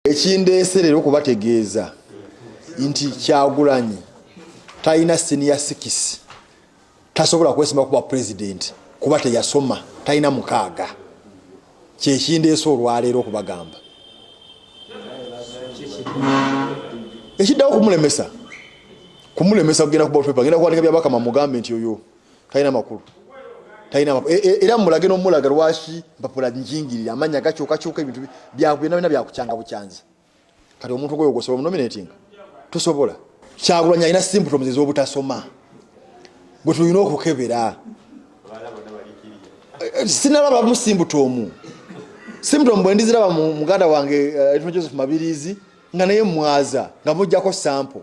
ekindeese leero okubategeeza nti kyagulanyi talina siniya sikisi tasobola kwesima kuba pulezidenti kuba teyasoma talina mukaaga kyekindeese olwaleero okubagamba ekiddawo kumulemesa kumulemesa kugenda kuba genda kuwandika byabakama mugambe nti oyo talina makulu talina makulu e, e, era mumulage nomulaga lwaki mpapula njingirira amanya gakyukakyuka ebintu byakuyona bina byakukyanga bukyanzi kati omuntu gwoyo gwosobola munominating tusobola kyagulanyi alina symptoms ezobutasoma gwe tulina okukebera eh, sinaba bamu simbuto omu simbuto mbwe ndiziraba muganda wange eh, joseph mabirizi nga naye mwaza nga mujjako sample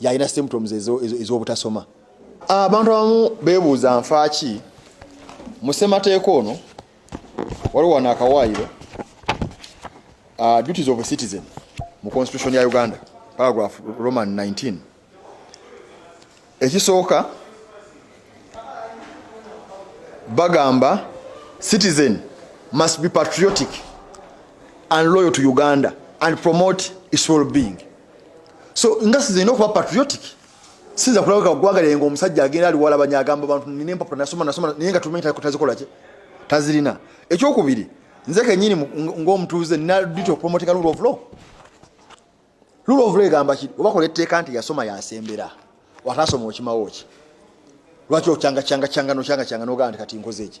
yalina symptoms ez'obutasoma abantu abamu beebuuza nfaaki mu ssemateeka ono waliwo wano akawaayiro uh, duties of a citizen mu constitution ya uganda paragraph roman 19 ekisooka bagamba citizen must be patriotic and loyal to uganda and promote its well being so nga size ina okuba patriotic sinza kulabika ogwagala nga omusajja agenda ali wala banya agamba bantu nina empapula nasoma nasoma naye nga tumanyi takola ki tazirina ekyokubiri nze kenyini ngaomutuuze nina duty of promoting rule of law rule of law egamba ki obakola etteeka nti yasoma yasembera watasoma okimawo ki lwaki okyanga kyanga kyanga nokyanga kyanga nogaa nti kati nkoze eki